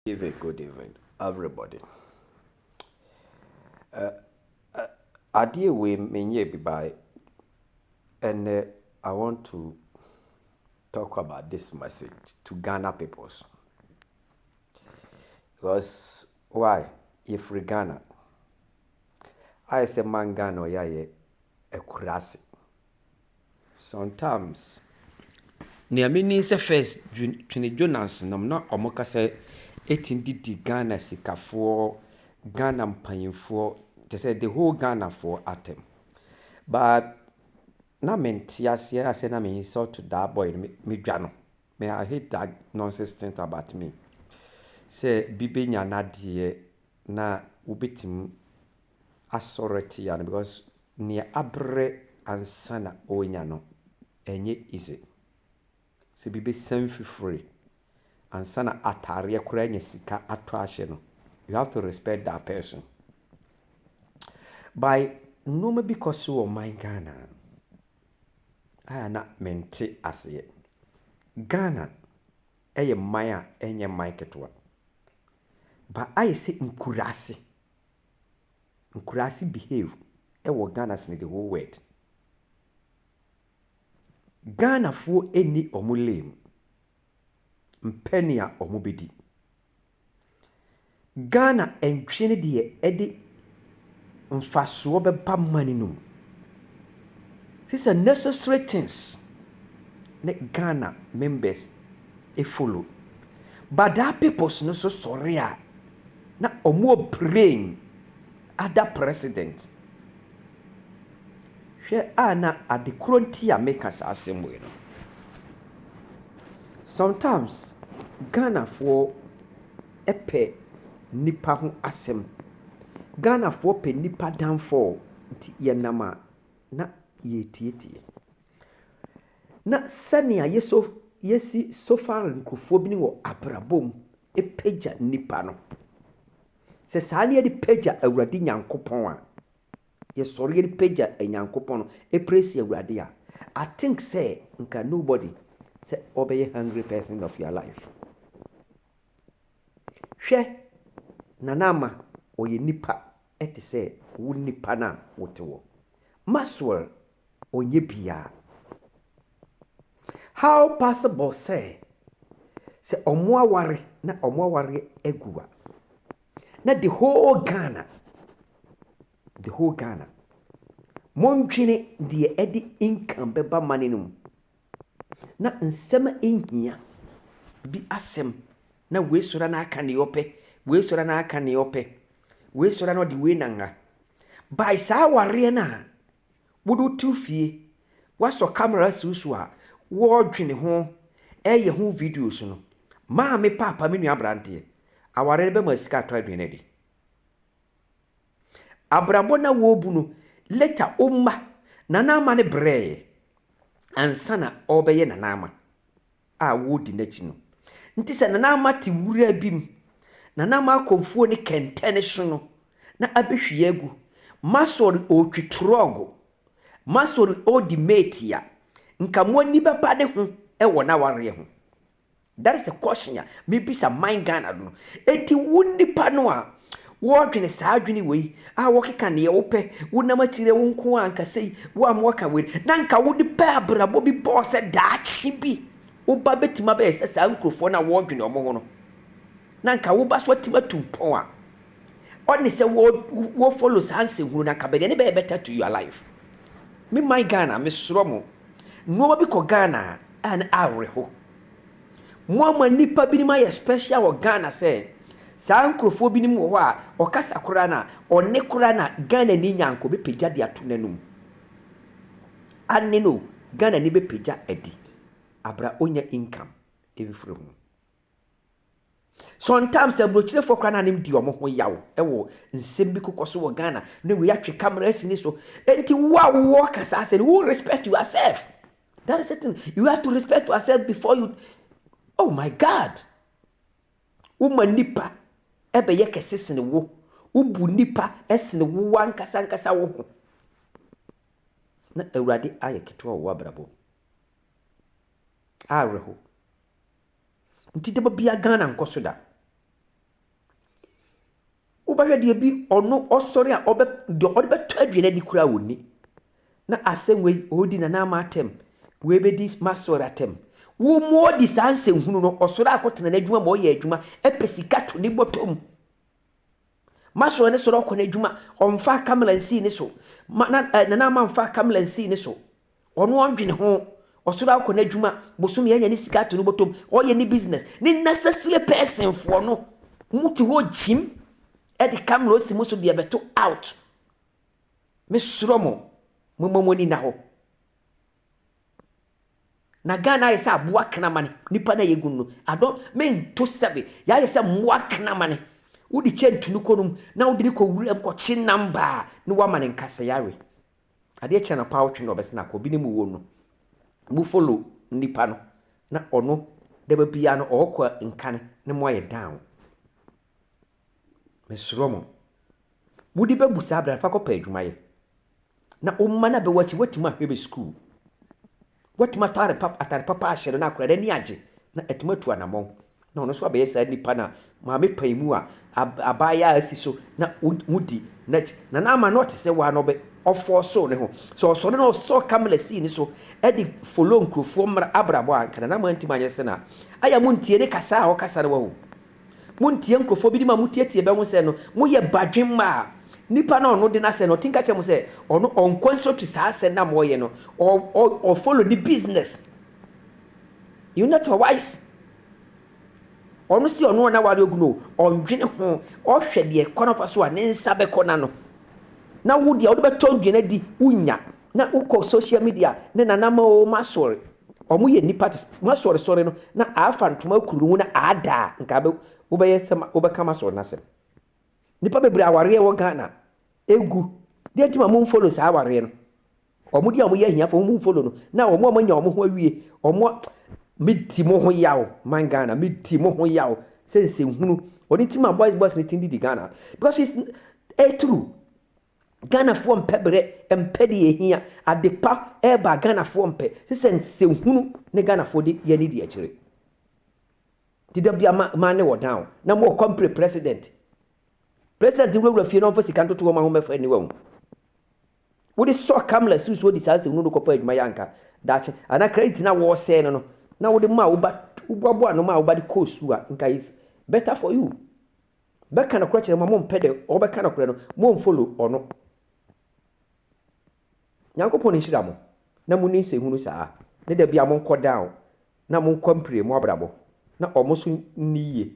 Evening good evening everybody adeɛ wei menyɛɛ bi by ɛnɛ I want to talk about this message to Ghana peoples because why yɛfiri Ghana ayɛ sɛ man Ghana ɔyɛ ayɛ akurase Sometimes nea menim sɛ first Twene Jonas nom na ɔmo kasa ɛtumi de di Ghana sikafoɔ, Ghana mpaninfoɔ, kyerɛ sɛ the whole Ghanafoɔ atɛm. But na mente aseɛ na sɛ na me insult that boy no, me dwa no. Me I hate that nonsense things about me. Sɛ bi bɛnya n'adeɛ na wobɛtumi asɔrtia no because nea abrɛ ansa na ɔrenya no ɛnyɛ easy. Sɛ bi bɛsan fifiri ansa na ataareɛ koraa anya sika atɔ ahyɛ no, you have to respect that person. By nneɛma bi kɔ so wɔ man Ghana a na mente aseɛ. Ghana ɛyɛ man a ɛnyɛ man ketewa. But ayɛ sɛ nkuraase. nkuraase behave wɔ Ghana sen the whole world. Ghanafoɔ nni wɔn lane mpɛ nea wɔbɛdi. Ghana ntwe ne deɛ ɛde mfasoɔ bɛba money no mu. These are necessary things ne Ghana members follow but that peoples no nso sɔre a. Na ɔmo praying ada president. Hwɛ a na ade korɔ nti a meka saa asɛm wei no. Sometimes Ghanafoɔ pɛ nnipa ho asɛm. Ghanafoɔ pɛ nnipa downfall nti yɛnam a na yɛretietie. Na sɛnea yɛsɔ yɛsi sofar nkurɔfoɔ bi ne wɔ abrabɔ mu pagya nnipa no, sɛ saa na yɛde pagya Awurade Nyankopɔn a, yɛsɔre yɛde pagya Nyankopɔn no, praise Awurade a, I think sɛ nka nobody sɛ ɔbɛyɛ hungry person of your life. Hwɛ, Nana Ama ɔyɛ nipa ɛte sɛ wo nipa no a wote wɔ. Maxwell ɔnyɛ biaa. How possible sɛ sɛ ɔmo aware na ɔmo awareɛ agu a na the whole Ghana the whole Ghana mondwene deɛ ɛde income bɛba mane no mu na nsɛm a ɛnhia bi asɛm na wei sɔre na aka ne ɔpɛ wei sɔre na aka ne ɔpɛ wei sɔre na ɔde wei nanga by saa awareɛ no a Wo de wote wo fie, woasɔ camera asi wo so a, woredwene ho, reyɛ ho videos no, maame paapa me nua aberanteɛ, aware no bɛma sika atɔ aduane adi. Abrabɔ na wɔrebu no, later wo mma, nana ama no brɛɛ ansa na ɔrebɛyɛ nana ama. a wɔredi n'akyi no. Nti sɛ Nana Ama te wura bi mu, Nana Ama akɔ mfuo ne kɛntɛn so no, na abɛhwie agu. Maxwell ɔretwi trɔgo, Maxwell ɔredi mate a, nka mo ani bɛba ne ho wɔ n'awareɛ ho. That is the question a mebisa man Ghana no. Nti wo nipa no a Wɔdwene saa adwene wei a wɔkeka neɛ wopɛ, wonam akyire wo nko a anka sei, wo a moaka wei, na anka wode pɛ abrabɔ bi bɔɔ sɛ daakye bi woba bɛtumi abɛyɛ sɛ saa nkurɔfoɔ no a wɔdwene wɔn ho no, na anka woba so atumi atu mpɔn a ɔne sɛ wɔfollow saa nsɛnhunu no anka bɛdeɛ ne bɛyɛ better to your life. Me man Ghana, mesrɔ mo, nnoɔma bi kɔ Ghana a na awerɛho. Mo ama nnipa binom ayɛ special wɔ Ghana sɛ saa nkurɔfoɔ binom wɔ hɔ a ɔkasa koraa no a ɔne koraa no a Ghanani nyanko bɛpagya de ato n'anum. Ane no Ghanani bɛpagya adi abra ɔnya income mfiri ho. Sometimes aburokyerefoɔ koraa no anem di wɔn ho yaw wɔ nsɛm bi kokɔ so wɔ Ghana na wei atwe camera asi ne so. Enti wo a wowɔ ka saa sɛ no wo respect yourself. That is certain. You have to respect yourself before you. Oh my God! Woma nipa ɛbɛyɛ kɛse sene wo. Wobu nipa ɛsene wo wankasa nkasa wo ho. Na Awurade ayɛ ketewa wɔ w'abrabɔ. Awerɛho. Nti daba bia Ghana nkɔ so da. Wobɛhwɛ deɛ bi ɔno ɔsɔre a ɔbɛ deɛ ɔde bɛtɔ aduane adi koraa ɔnni. Na asɛm wei ɔredi Nana Ama atɛm, wei bɛdi Masɔre atɛm. Wo Modi saa nsɛnhunu no, ɔsɔre akɔtena n'adwuma ma ɔyɛ adwuma, ɛpɛ sika to ne bɔtɔ mu. Masɔre ne sɔre ɔkɔ n'adwuma, ɔmfa kamela nsii ne so. Ma, na, eh, Nana Ama mfa kamela nsii ne so. Ɔno ɔndwene ho. Ɔsɔre akɔ n'adwuma, bosome anya ne sika ato no bɔtɔ mu, ɔyɛ ne business. Ne necessary person foɔ no, wɔn te hɔ gyim de camera osi mo so deɛ bɛto out. Me srɔ mo, mo mma mo ani na hɔ. Na Ghana ayɛ sɛ aboa kramane, nipa na yɛ gun no. Adɔ, me nto sɛbe, yɛ ayɛ sɛ mmoa kramane. Wode kyɛ ntunu kɔ no mu, na wode ne kɔ wura mu kɔ kye namba a, ne wama ne nkasa yare. Adeɛ kye anɔpa awotwe na ɔbɛsene akɔ obi ne mu wom no, mo follow nipa no na ɔno daba biara no ɔɔkɔ a nkane ne mo ayɛ down. Mesrɛ mo. Wode bɛbu saa berɛ no fa kɔpɛ adwuma yɛ. Na wo mma no a bɛwɔ akyi woatumi ahwɛ bɛ sukuu. Watumi atare papa atare papa ahyɛ no na akora n'ani agye na atumi atu anammɔn na ɔno nso abɛyɛ saa nipa na maame pan mu a abaayaa asi so na wodi n'akyi na n'ama no ɔte sɛ waa na ɔbɛ ɔfɔɔ so ne ho sɛ ɔsɔre na ɔsɔ kamela sii ne so ɛde folo nkurɔfoɔ mmra abrabɔ a nka na n'ama ntumi anyɛ sɛ na ayɛ mo ntie ne kasa a ɔkasa no wahu Monntie nkurɔfoɔ binom a motiatia bɛ ho sɛ no, moyɛ badwemma a nipa no a ɔno de n'asɛm no, ɔte nka kyerɛ mo sɛ ɔno ɔnkɔ nsrɔtwi saa asɛm no a moɔyɛ no, ɔ, ɔ, ɔfollow ne business. You not wise. Ɔno se ɔno na ware ogunu o, ɔndwene ho, ɔhwɛ deɛ kwan ɔfa so a ne nsa bɛkɔ n'ano. Na wo deɛ wode bɛtɔ ndwene adi, wonnya. Na wokɔ social media ne nanama o, masɔre. Ɔmo yɛ nnipa te sɛ m'asɔre sɔre no na aafa ntoma akuru ne ho na aada a nka abɛ wobɛyɛ sɛ ma wobɛka m'asɔre no asɛm. Nnipa bebree awareɛ wɔ Ghana egu deɛ nti ma mo nfollow saa awareɛ no ɔmo deɛ ɔmo yɛ ahiafoɔ mo nfollow no na ɔmo ɔmo anya ɔmo ho awie ɔmo me di mo ho yaw man Ghana me di mo ho yaw sɛ nsɛnhunu ɔno nti ma boys boys no tin didi Ghana because it's ɛyɛ true. Ghanafoɔ mpɛ berɛ, mpɛ deɛ ɛhia. Adepa reba a Ghanafoɔ mpɛ. Se sɛ nsɛhunu ne Ghanafoɔ de yɛ ne di akyire. Nti da bia ma, ma ne wɔ down. Na mo ɔkɔ mpere president. President wurawura fie na ɔmfa sika ntoto wɔn a wɔn mɛfa aniwa mu. Wode sɔ kamla si so di saa nsɛhunu no kɔpɔ adwuma yɛ anka daakye. Ana credit na wɔresɛe no no. Na wode ma woba, woboaboa no ma woba de kɔɔ sukuu a nka is better for you. bɛka nokorɛ kyerɛ mo a mompɛ deɛ ɔbɛka nokorɛ no, monfollow ɔno. Nyankopɔn nhyira mo na monni nsɛhunu saa, ne da biara monkɔ down na monkɔ mpire mo abrabɔ na ɔmo nso nni yie.